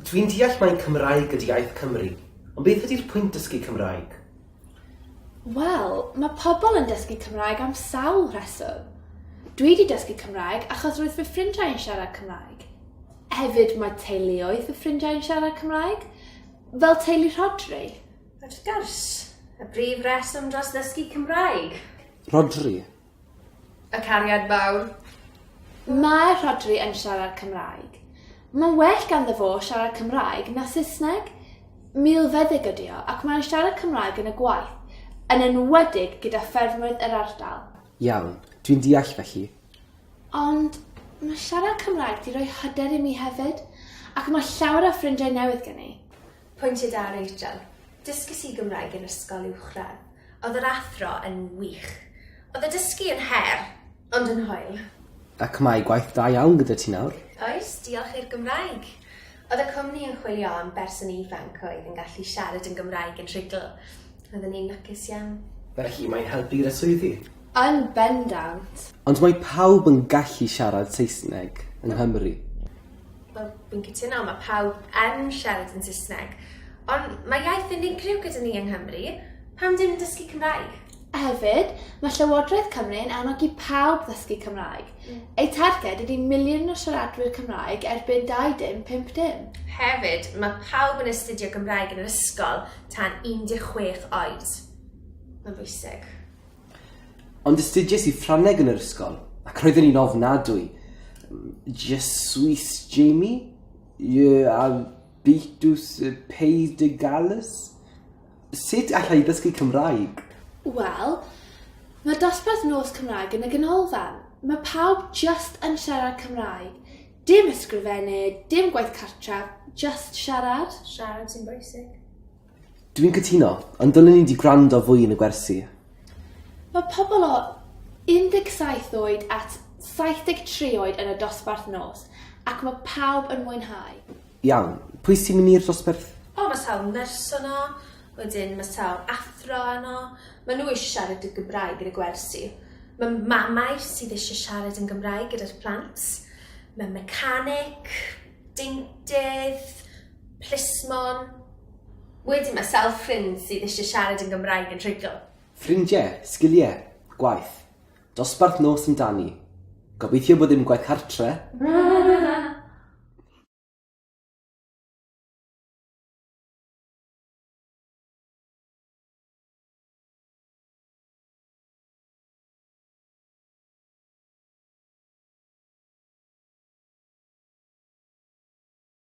Dwi'n deall mai Cymraeg ydy iaith Cymru, ond beth ydy'r pwynt dysgu Cymraeg? Wel, mae pobl yn dysgu Cymraeg am sawl rheswm. Dwi wedi dysgu Cymraeg achos roedd fy ffrindiau yn siarad Cymraeg. Hefyd mae teuluoedd fy ffrindiau yn siarad Cymraeg, fel teulu Rhodri. Wrth gwrs, y brif reswm dros ddysgu Cymraeg. Rhodri, Y cariad fawr. Mae Rhodri yn siarad Cymraeg. Mae'n well ganddo fo siarad Cymraeg na Saesneg. Milfeddyg ydy o, ac mae'n siarad Cymraeg yn y gwaith, yn enwedig gyda ffermwyr yr ardal. Iawn, dwi'n deall felly. Ond mae siarad Cymraeg 'di rhoi hyder i mi hefyd, ac mae llawer o ffrindiau newydd gen i. Pwyntiau da, Rachel. Dysges i Gymraeg yn ysgol uwchradd. Oedd yr athro yn wych. Oedd y dysgu yn her, ond yn hwyl. Ac mae gwaith da iawn gyda ti nawr. Oes, diolch i'r Gymraeg. Oedd y cwmni yn chwilio am berson ifanc oedd yn gallu siarad yn Gymraeg yn rhugl. Oedden ni'n lwcus iawn. Felly mae'n helpu gyda swyddi? Yn bendant. Ond mae pawb yn gallu siarad Saesneg yng Nghymru. Wel, fi'n cytuno, mae pawb yn siarad yn Saesneg, ond mae iaith unigryw gyda ni yng Nghymru, pam dim dysgu Cymraeg? Hefyd, mae Llywodraeth Cymru yn annog i pawb ddysgu Cymraeg. Mm. Ei targed ydy miliwn o siaradwyr Cymraeg erbyn 2050. Hefyd, mae pawb yn astudio Gymraeg yn yr ysgol tan 16 oed. Mae'n bwysig. Ond astudiais i Ffrangeg yn yr ysgol, ac roedden ni'n ofnadwy. Je suis Jamie, je habitus Pays de Galles. Sut alla i ddysgu Cymraeg? Wel, mae dosbarth nos Cymraeg yn y ganolfan. Mae pawb jyst yn siarad Cymraeg. Dim ysgrifennu, dim gwaith cartref, jyst siarad. Siarad sy'n bwysig. Dwi'n cytuno. Ond dylen ni 'di gwrando fwy yn y gwersi. Mae pobl o 17 oed at 73 oed yn y dosbarth nos ac mae pawb yn mwynhau. Iawn. Pwy sy'n mynd i'r dosbarth? O ma sawl nyrs yno, wedyn ma sawl athro yno, ma nhw eisiau siarad y Gymraeg yn y gwersi. Ma mamau sydd eisiau siarad yn Gymraeg gyda'r plant, ma mecanic, deintydd, Plismon. Wedyn mae sawl ffrind sydd eisiau siarad yn Gymraeg yn rhugl. Ffrindiau, sgiliau, gwaith. Dosbarth nos amdani. Gobeithio bod dim gwaith cartre.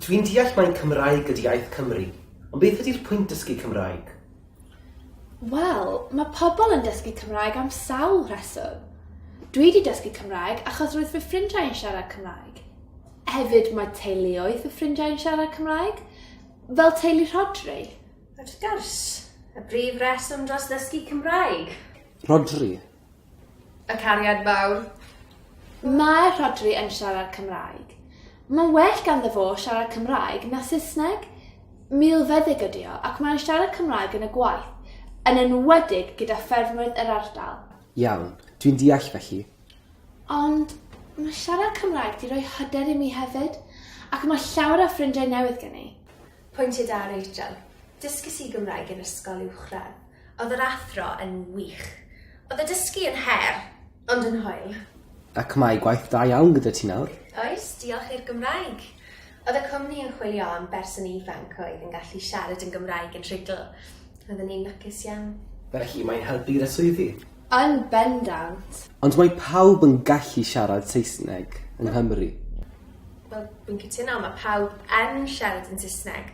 Dwi'n deall mai Cymraeg ydi iaith Cymru, ond beth ydi'r pwynt dysgu Cymraeg? Wel, mae pobl yn dysgu Cymraeg am sawl rheswm. Dwi 'di dysgu Cymraeg achos roedd fy ffrindiau yn siarad Cymraeg. Hefyd mae teuluoedd fy ffrindiau yn siarad Cymraeg, fel teulu Rhodri. Wrth gwrs, y brif reswm dros ddysgu Cymraeg. Rhodri, Y cariad fawr. Mae Rhodri yn siarad Cymraeg. Mae'n well ganddo fo siarad Cymraeg na Saesneg. Milfeddyg ydi o, ac mae'n siarad Cymraeg yn y gwaith, yn enwedig gyda ffermwyr yr ardal. Iawn, dwi'n deall felly. Ond mae siarad Cymraeg 'di rhoi hyder i mi hefyd, ac mae llawer o ffrindiau newydd gen i. Pwyntiau da, Rachel. Dysges i Gymraeg yn ysgol uwchradd. Oedd yr athro yn wych. Oedd y dysgu yn her, ond yn hwyl. Ac mae gwaith da iawn gyda ti nawr. Oes, diolch i'r Gymraeg. Oedd y cwmni yn chwilio am berson ifanc oedd yn gallu siarad yn Gymraeg yn rhugl. Roedden ni'n lwcus iawn. Felly mae'n helpu gyda swyddi? Yn bendant. Ond mae pawb yn gallu siarad Saesneg yng Nghymru. Wel, fi'n cytuno, mae pawb yn siarad yn Saesneg,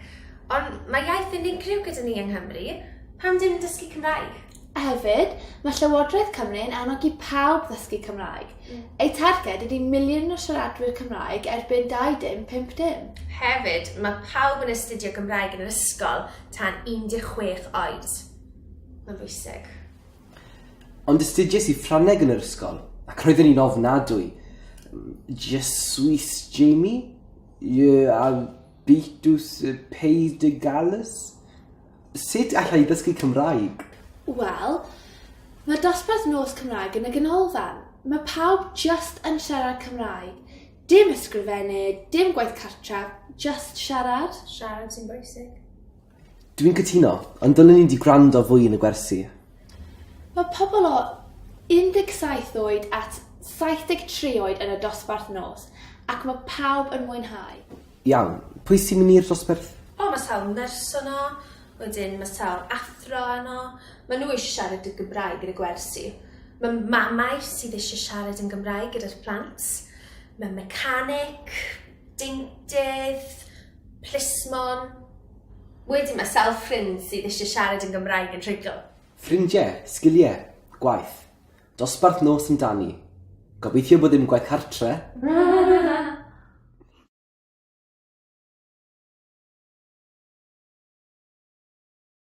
ond mae iaith unigryw gyda ni yng Nghymru, pam dim dysgu Cymraeg? A hefyd, mae Llywodraeth Cymru yn annog i pawb ddysgu Cymraeg. Mm. Ei targed ydy miliwn o siaradwyr Cymraeg erbyn 2050. Hefyd, mae pawb yn astudio Gymraeg yn yr ysgol tan 16 oed. Mae'n bwysig. Ond astudies i Ffrangeg yn yr ysgol, ac roedden ni'n ofnadwy. Je suis Jamie, je habitus Pays de Galles. Sut allai ddysgu Cymraeg? Wel, mae dosbarth nos Cymraeg yn y ganolfan. Mae pawb jyst yn siarad Cymraeg. Dim ysgrifennu, dim gwaith cartref, jyst siarad. Siarad sy'n bwysig. Dwi'n cytuno. Ond dylen ni 'di gwrando fwy yn y gwersi. Mae pobl o 17 oed at 73 oed yn y dosbarth nos ac mae pawb yn mwynhau. Iawn. Pwy sy'n mynd i'r dosbarth? O ma sawl nyrs yno, wedyn ma sawl athro yno, ma nhw eisiau siarad y Gymraeg yn y gwersi. Ma mamau sydd eisiau siarad yn Gymraeg gyda'r plant, ma mecanic, deintydd, Plismon. Wedyn mae sawl ffrind sydd eisiau siarad yn Gymraeg yn rhugl. Ffrindiau, sgiliau, gwaith. Dosbarth nos amdani. Gobeithio bod dim gwaith cartre.